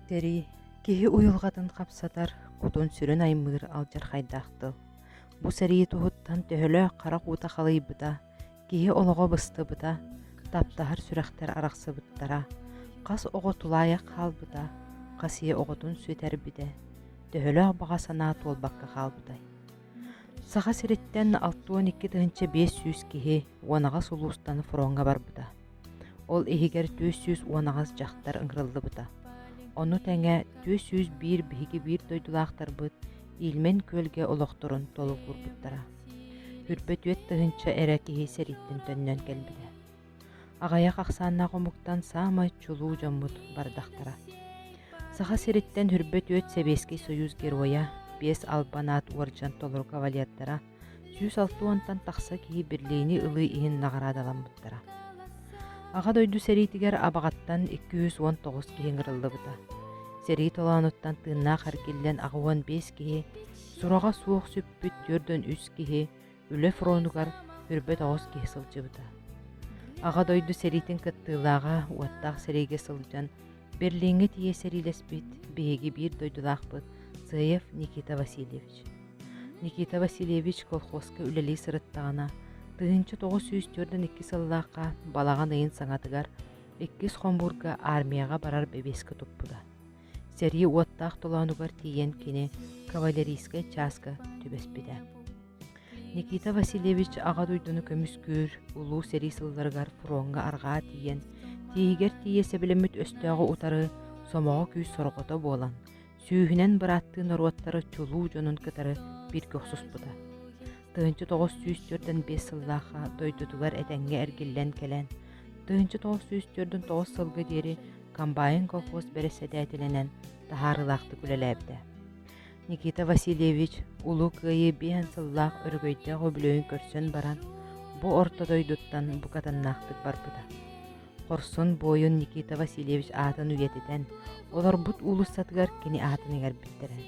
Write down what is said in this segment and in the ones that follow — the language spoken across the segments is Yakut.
Тэрий, киһи уйулҕатын хапсатар, кутун-сүрүн аймыыр алдьархайдаах тыл. Бу сэрии туһуттан төһөлөөх харах уута халыйбыта, Киһи олоҕо быстыбыта, таптаһар сүрэхтэр арахсыбыттара, хас оҕо тулаайах хаалбыта, хас ийэ оҕотун сүтэрбитэ, төһөлөөх баҕа санаа туолбакка хаалбытай? Саха сириттэн алтыан икки тыһыынча биэс сүүс киһи уонаҕас улуустан фроҥҥа барбыта. Ол иһигэр түөрт сүүс уон аҕыс дьахтар ыҥырыллыбыта. Ону тэҥэ түөрт сүүс биир биһиги биир дойдулаахтарбыт Ильмень күөлгэ олохторун толугурбуттара. Үрбөтүөт тыһыынча эрэ киһи сэрииттэн төннөн кэлбитэ. Аҕайах ахсааннаах омуктан саамай чулуу дьоммут бардахтара. Саха сириттэн Үрбөтүөт Сэбиэскэй Союз Геройа Биэс Албанаат уордьан толору кавалердара сүүс алта уонтан тахса киһи берлини ылыы иһин наҕараадаламмыттара аҕа дойду сэриитигэр абаҕаттан икки жүз уон тоҕус киһи ыҥырыллыбыта сэрии толоонуттан тыыннаах эргиллэн аҕа уон биэс киһи сураҕа суох сүппүт түөртөн үс киһи үлэ фронугар көрбөт оҕус киһи сылдьыбыта аҕа дойду сэриитин кыттыылааҕа уоттаах сэриигэ сылдьан берлиҥҥэ тиийэ сэриилэспит биһиги биир дойдулаахпыт сыаев никита васильевич Никита Васильевич колхозка үлэлии сырыттаҕына, тыһыынча тоҕус сүүс түөртэн икки сыллаахха балаҕан ыйын саҥатыгар иккис хомуурга армияҕа барар бэбиэскэ туппута. Сэрии уоттаах толоонугар тиийэн кини кавалерийскай чааска түбэспитэ. Никита Васильевич Аҕа дойдуну көмүскүүр Улуу сэрии сылларыгар фроҥҥа арҕаа тиийэн, тииһигэр тиийэ сэбилэммит өстөөҕү утары сомоҕо күүс сорҕото буолан, сүүһүнэн бырааттыы норуоттары чулуу дьонун кытары бииргэ охсуспута. Тыһынча тоҕус сүүс төрдөн биэс сыллаахха дойдутугар этэҥҥэ эргиллэн кэлэн, тыһынча тоҕус сүүс төрдүн тоҕус сылга диэри комбайн колхоз бэрэссэдээтэлинэн таһаарыылаахтык үлэлээбитэ. Никита Васильевич Улуу Кыайыы биэһэн сыллаах өрөгөйдөөх үбүлүөйүн көрсөн баран, бу орто дойдуттан букатыннаахтык барбыта. хорсун буойун Никита Васильевич аатын үйэтитэн, олорбут уулуссатыгар кини аатын иҥэрбиттэрэ.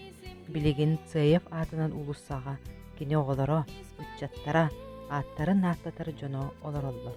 Билигин Цеев аатынан уулуссаҕа кини оҕолоро, ыччаттара, ааттарын ааттатар дьоно олороллор.